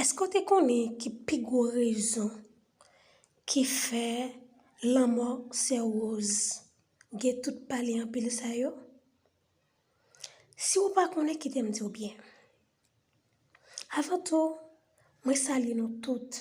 Èske w te konnen ki pi gwo rezon ki fè lanmò sè Rose gen tout pale anpil sa yo? Si w pa konnen kite m di w byen. Avan tou, mwen salye nou tout.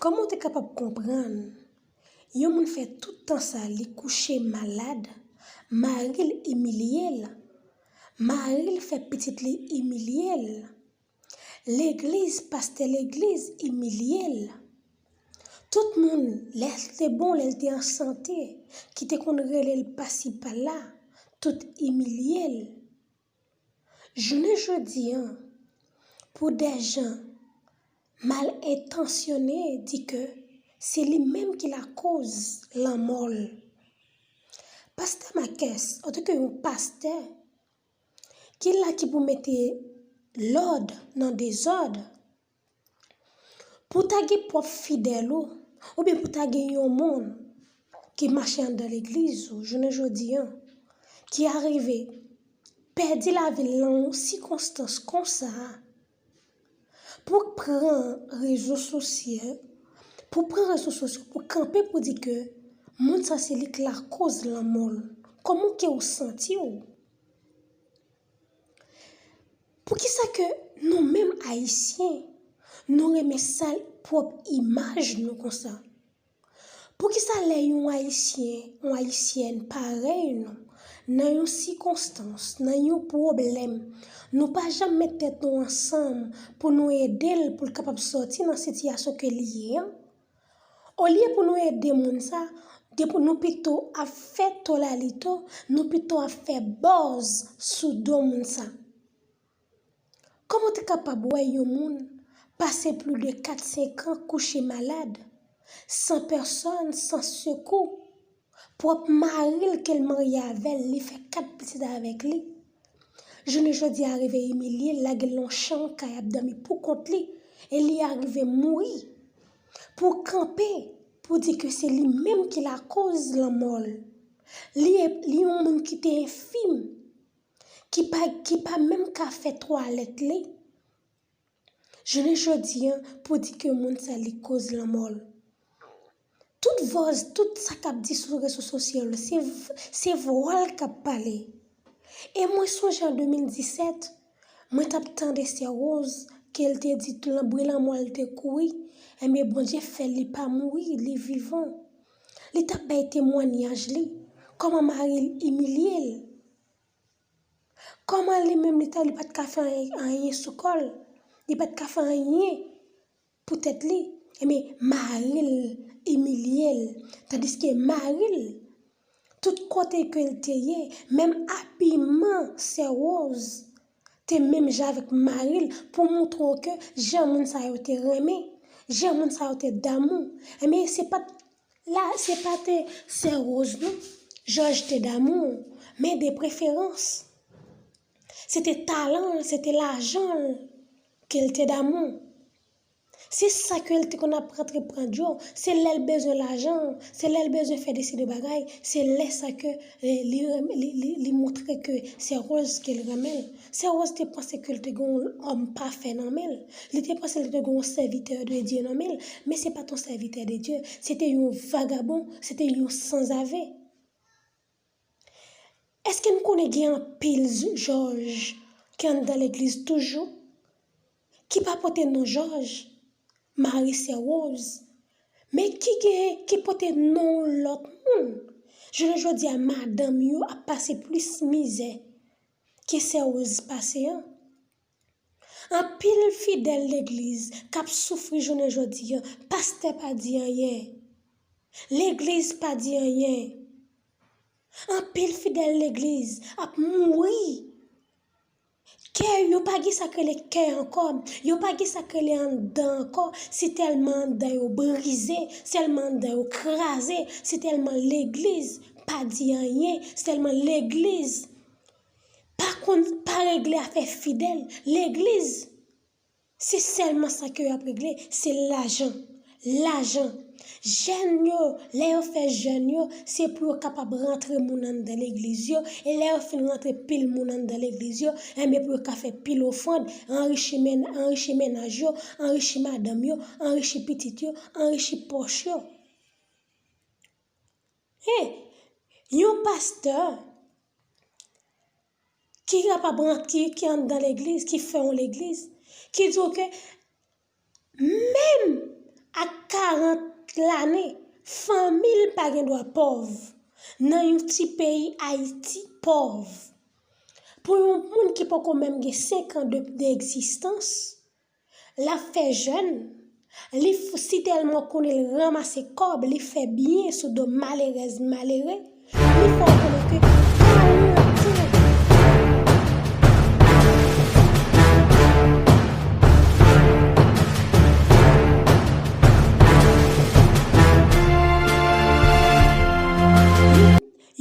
Kòman w te kapab konprann yon moun fè tout tan sa li kouche malad, mari l imilye l, mari l fè pitit li imilye l? Legliz pastè legliz imilye l. Tout moun lè l te bon lè l te an sante ki te konn rele l pasi pala tout imilye l. Jounen jodi an pou dè jan mal entansyone di ke se li menm ki lakoz lanmò l. Pastè Makès antanke yon pastè. Ki la ki pou mete lòd nan dezòd. Pou ta gen pwòp fidèl ou, oubyen pou ta gen yon moun ki mache anndan legliz ou jounen jodi an, ki arive pèdi lavi l lan yon sikonstans konsa a. Pou k pran rezo sosye, pou pran rezo sosyo pou kanpe pou di ke moun sa se li k lakoz lanmò l. Kòman ke ou santi w? Poukisa ke nou menm ayisyen nou renmen sal pwòp imaj nou konsa? Poukisa lè yon Ayisyen, yon Ayisyèn parèy nou nan yon sikonstans, nan yon pwoblèm, nou pa janm met tèt nou ansanm pou nou ede l pou l kapab sòti nan sitiyasyon ke li ye an? Olye pou nou ede moun sa, nou pito ap fè tolalito, nou pito ap fè buzz sou do moun sa. Kòman w te kapab wè yon moun pase pli de kat senkan kouche malad, san pèsòn, san sekou, pwòp mari l ke l marye avè l, li fè kat pitit avèk li, jounen jodi a rive imilye l, lage l nan yon chanm kay ap dòmi pou kont li, e li arive mouri, pou w kanpe pou w di ke se li menm ki lakoz lanmò l? Li yon moun ki te enfim, ki pa ki pa menm ka fè twalèt li jounen jodi an pou di ke moun sa li koz lanmò l. Tout vòz, tout sa kap di sou rezo sosyo yo se se vwa l kap pale. E mwen sonje an 2017 mwen tap tande sè Rose ke l te di lan bri lanmò l te kouri enben Bondye fè li pa mouri li vivan. Li t ap bay temwanyaj li, kòman mari l imilye l, kòman li menm li ta li pa t ka fè anyen sou kò l, li pa t ka fè anyen pou tèt li, enben mari l imilye l. Tandiske mari l, tout kote ke l te ye, menm abiman sè Woz te menm jan avèk mari l pou montre w ke jan moun sa yo te renmen, jan moun sa yo te damou. Enben, se pa t la, se pa te sè Woz non Jòj te damou, men de preferans. Se te talan l, se te lajan l ke l te damou. Se sa ke l te konn ap rantre pran djo, se lè l bezwen lajan, se lè l bezwen fè desi de bagay, se lè sa ke li renmen, li montre ke se Rose ke l renmen. Sè Rose te panse ke l te gen yon òm pafè nan men l, li te panse li te gen yon sèvitè de Dye nan men l, men se pa t yon sèvitè de Dye, se te yon vagabon, se te yon sanzave. Eske n konnen gen anpil Jòj ki anndan legliz toujou, ki pa pote non Jòj, Mari Sè Woz, men ki gen, ki pote non yon lòt moun? Jounen jodi a madanm yo ap pase plis mizè ke Sè Woz pase an. Anpil fidèl legliz kap soufri jounen jodi pastè pa di anyen legliz pa di anyen anpil fidèl legliz ap mouri kè yo pa gen sak rele kè ankò yo pa gen sak rele anndan ankò si tèlman anndan yo brize sèlman anndan yo kraze si tèlman legliz pa di anyen sèlman legliz pa konn pa regle afè fidèl legliz se sèlman sa ke yo ap regle se lajan lajan jèn yo lè yo fè jèn yo se pou yo kapab rantre moun anndan legliz yo e lè yo fin rantre pil moun anndan legliz yo enben pou yo ka fè pil ofrand anrichi men anrichi mennaj yo anrichi madanm yo anrichi pitit yo anrichi pòch yo. Hey! Yon pastè ki kapab rant, ki ki anndan legliz, ki fè yon legliz, ki di w ke menm ak 40 lane, fanmi l pa gen dwa pòv nan yon ti peyi Ayiti pòv. Pou yon moun ki poko menm gen 5 an de egzistans. Lap fè jèn, li fou si tèlman konnen l ranmase kòb li fè byen sou do malerèz malere, li fè w konnen ke kawou l ap tire pou li.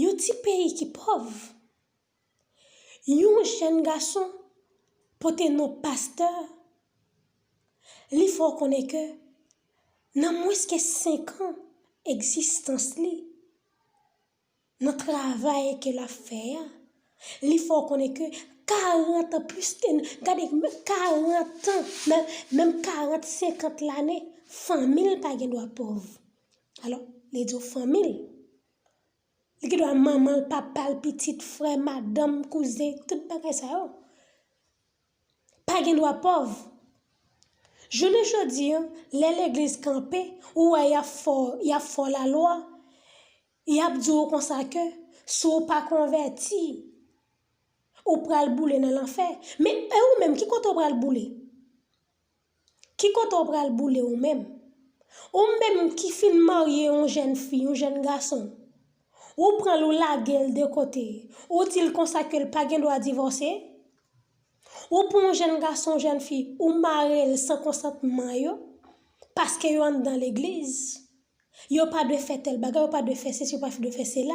Yon ti peyi ki pòv. Yon jèn gason pote non pastè, li fè w konnen ke nan mwens ke 5 an egzistans li, nan travay ke l ap fè a, li fè w konnen ke 40 an plis ke, gade, 40 an, menm 40, 50 lane, fanmi l pa gen dwa pòv. Alò, li di w fanmi l, Li gen dwa manman l, papa l, pitit, frè, madanm, kouzen, tout bagay sa yo. Pa gen dwa pòv. Jounen jodi an, lè legliz kanpe, ou wè y ap fè w, y ap fè w lalwa, y ap di w konsa ke si w pa konvèti, ou pral boule nan lanfè. Men, e ou menm, ki kote ou pral boule? Ki kote w pral boule ou menm? Ou menm ki fin marye yon jèn fi, yon jèn gason, ou pran l ou lage l de kote, ou di l konsa ke l pa gen dwa divòse? Ou pran yon jèn gason, yon jèn fi, ou mare l san konsantman yo, paske yo anndan legliz? Yo pa dwe fè tèl bagay, yo pa dwe fè sesi, yo pa dwe fè sela.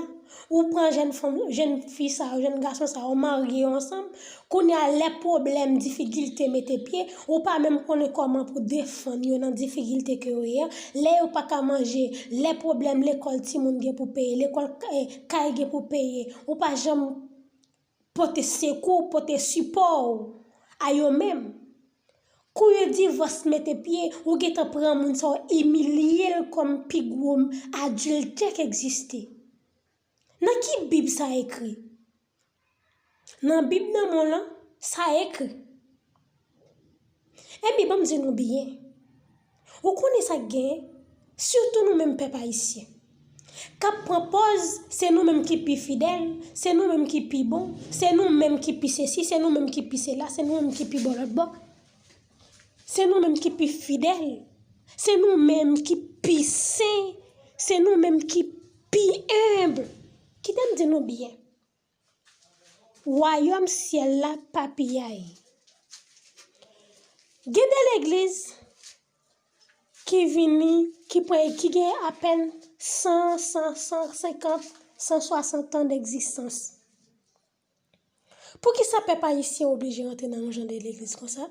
Ou pran jèn fanm, jèn fi sa yo, jèn gason sa yo, ou marye yo ansanm, kounye a lè pwoblèm, difikilte mete pye, ou pa menm konnen kòman pou defann yo nan difikilte ke yo ye a, lè yo pa ka manje, lè pwoblèm lekòl timoun gen pou peye, lekòl kay gen pou peye, ou pa janm. Pote sekou w, pote sipò w a yo menm. Kou yon divòs mete pye, ou gentan pran moun sa w imilye l kòm pi gwo adiltè k egziste. Nan ki bib sa ekri? Nan bib nan mwen lan, sa ekri. Epi banm di nou byen, ou konnen sa k gen, sitou nou menm pèp ayisyen, k ap pran pòz se nou menm ki pi fidèl, se nou menm ki pi bon, se nou menm ki pi sesi, se nou menm ki pi sela, se nou menm ki pi bon lòt bò, se nou menm ki pi fidèl, se nou menm ki pi sen, se nou menm ki pi enb. Kite m di nou byen. Wayòm syèl la pa piyay. Gen de legliz ki vini, ki pre, ki gen apèn 100, 100, 150, 160 tan degzistans. Poukisa pèp ayisyen oblije rantre nan yon jan de legliz konsa?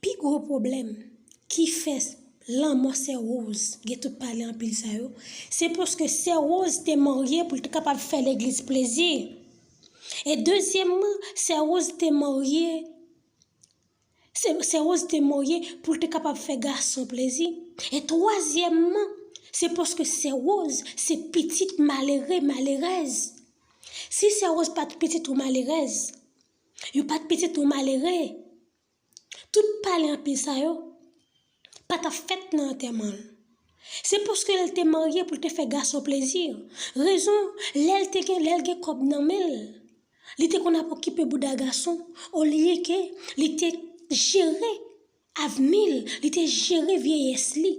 Pi gwo pwoblèm ki fè lanmò sè Rose gen tout pale anpil sa yo, se paske sè Rose te marye pou l te kapab fè legliz plezi e dezyèmman sè Rose te marye Se Rose te marye pou l te kapab fè gason plezi. E twazyèmman, se paske sè Rose se pitit malere, malerèz. Si sè Rose pa t pitit yon malerèz, yo pa t pitit yon malere, tout pale anpil sa yo, pa ta fèt nan antèman l. Se paske l te marye pou l te fè gason plezi. Rezon, lè l te gen lè l gen kòb nan men l, li te konn ap okipe bouda gason olye ke li te jere avni l, li te jere vyeyès li.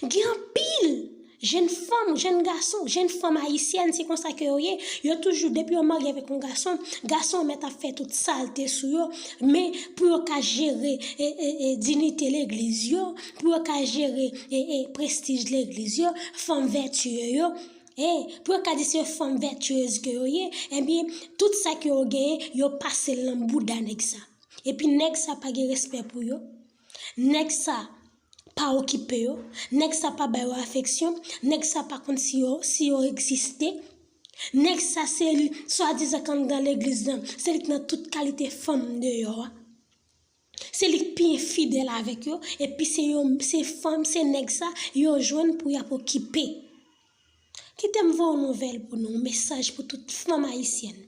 Gen anpil Jenn fanm, jenn gason, jenn fanm ayisyèn se konsa ke yo ye, yo toujou depi yo marye avèk yon gason, gason an mèt ap fè tout salte sou yo, men pou yo ka jere dinite legliz yo, pou yo ka jere prestij legliz yo, fanm vètye yo, pou yo ka di se fanm vètyez ke yo ye, ebyen tout sa ke yo genyen yo pasel nan bouda nèg sa. Epi nèg sa pa gen respè pou yo, nèg sa. Pa okipe yo, nèg sa pa ba yo afeksyon, nèg sa pa konn si yo si yo egziste, nèg sa se li swadizan k anndan legliz lan, se li k nan tout kalite fanm deyò a, se li k pi enfidèl avèk yo epi se yo se fanm se nèg sa yo jwenn pou y ap okipe. Kitem vow nouvel pou nou mesaj pou tout fanm ayisyèn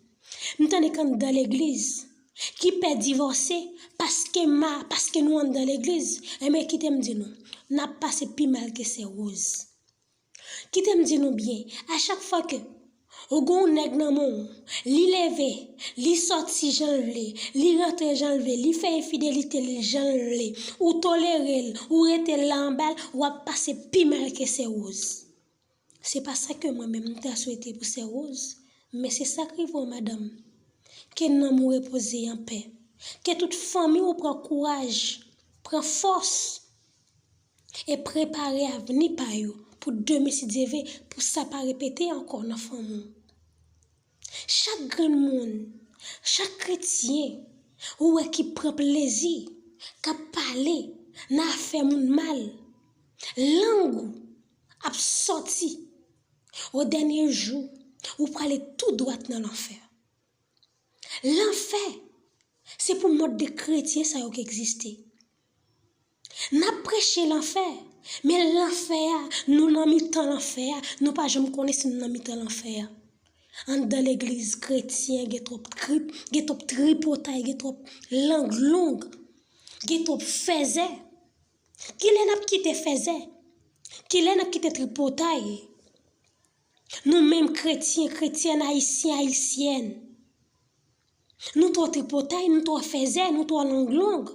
m tande k anndan legliz ki pè divòse paske ma paske nou anndan legliz enben kitem di nou nap pase pi mal ke sè Rose kitem di nou byen a chak fwa ke ou gonw nèg nan menw. Li leve, li sòti jan l vle, li rantre jan l vle, li fè enfidelite li jan l vle, ou tolere l, ou rete la anba l, w ap pase pi mal ke Sè Woz. Se pa sa ke mwen menm m ta swete pou Sè Woz, men se sa k rive w madanm. Ke nanm ou repoze an pè. Ke tout fanmi w pran kouraj, pran fòs. E prepare avni pa yo pou demen si Dye ve pou sa pa repete ankò nan fanmi w. Chak grenn moun, chak kretyen ou wè ki pran plezi, k ap pale nan afè moun mal, lang ou ap sòti o dènye jou ou prale tou dwat nan lanfè. Lanfè se pou mòd de kretyen sa yo k egziste. N ap preche lanfè, men lanfè a, nou nan mitan lanfè a, nou pa janm konnen si nou nan mitan lanfè a. Anndan legliz kretyen gen twòp trip, gen twòp tripotay, gen twòp lang long, gen twòp fèzè. Kilè n ap kite fèzè? Kilè n ap kite tripotay? Nou menm kretyen, kretyèn, ayisyen, ayisyèn. Nou twò tripotay, nou twò fèzè, nou twò long long.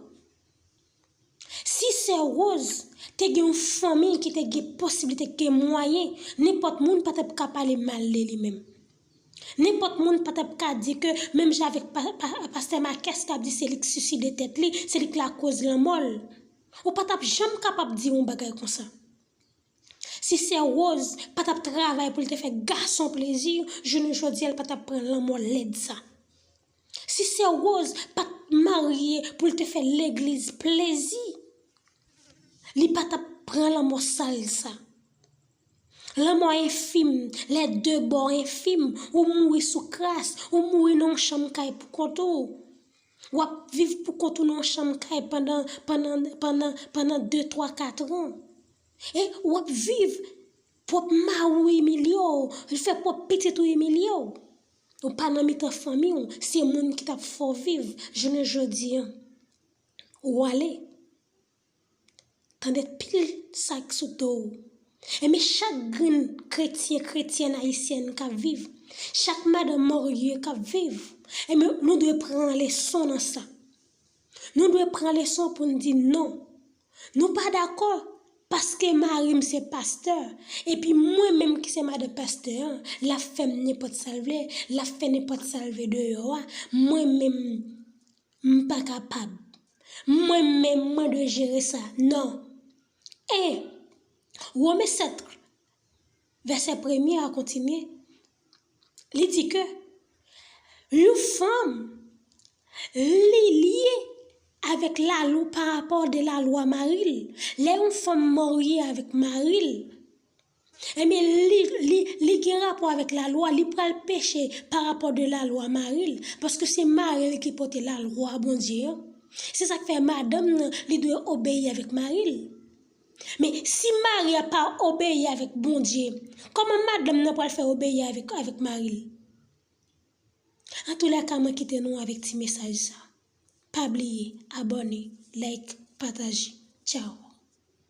Si sè Rose te gen yon fanmi ki te gen posiblite, ki te gen mwayen, nenpòt moun pa tap ka pale mal de li menm. Nenpòt moun pa tap ka di ke menm jan avèk pastè Makès kap di se li ki siside tèt li, se li ki lakoz lanmò l. Ou pa tap janm kapab di yon bagay konsa. Si sè Rose pa tap travay pou l te fè gason plezi jounen jodi a l pa tap pran lanmò lèd sa. Si sè Rose pat marye pou l te fè legliz plezi li pa tap pran lanmò sal sa. Lanmò enfim, lè de bò enfim, ou mouri sou kras, ou mouri nan yon chanm kay pou kont ou. Wap viv pou kont ou nan yon chanm kay pandan pandan pandan pandan de twa katran. E wap viv pwòp mari w imilye w, li fè pwòp pitit ou imilye w. Ou pa nan mitan fanmi w, se moun ki tap fè w viv jounen jodi an ou ale. Tande pil sa k sou do w. Enben chak grenn kretyen, kretyèn ayisyèn k ap viv, chak madan marye k ap viv, enben nou dwe pran leson nan sa. Nou dwe pran leson pou n di non, nou pa dakò paske mari m se pastè epi mwen menm ki se madan pastè an, l ap fè m nenpòt sa l vle, l ap fè nenpòt sa l vle deyò a, mwen menm m pa kapab. Mwen menm mwen dwe jere sa. Non. 1 Women 7, vèsè premye a kontinye, li di ke yon fanm li lye avèk lalw parapò de lalwa mari l. Lè yon fanm marye avèk mari l. Ebyen li li li gen rapò avèk lalwa li pral peche pa rapò de lalwa maril paske se maril ki pote lalwa Bondye an se sak fè madanm nan li dwe obeyi avèk maril men si mari a pa obeyi avèk Bondye kòman madanm nan pral fè obeyi avèk avèk maril antoulèka mwen kite nou avèk ti mesaj sa pa bliye abòne like pataje tchao.